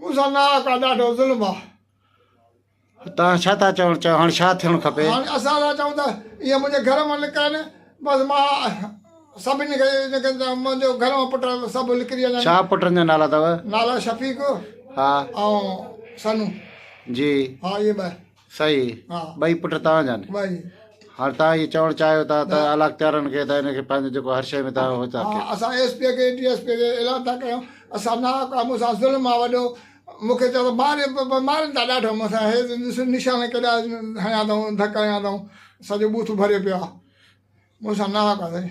مون سان ناحق آ ڏاڍو ظلم آ. توهان ڇا ٿا چوڻ چاهيو هاڻ ڇا ٿيڻ کپي؟ هاڻ اسان ٿا چئون ته اهي منهنجي گهر مان نڪرن بس مان سڀني کي اهو چيان ته منهنجو گهر مان پٽ سڀ نڪري وڃن. ڇا پٽن جا نالا اٿو؟ نالا شفيق ها ۽ سنو جي ها اهي ٻه. سائين ها ٻئي پٽ توهان جا آهن ٻئي هاڻ توهان هي چوڻ چاهيو ٿا ته علاقتيارن کي ته هن کي پنهنجو جيڪو هر شيء ۾ توهان هو ٿا ڪيو اسان ايس پي کي ڊي ايس پي کي اعلان ٿا ڪيون اسان نه ڪا مون سان ظلم آ وڏو مون کي چيو مار مارن ٿا ڏاڍو مون سان هي ڏس نشان ڪيڏا هنيا اٿئون ڌڪ هنيا اٿئون سڄو بوٿ ڀريو پيو آ مون سان نه ڪا سائين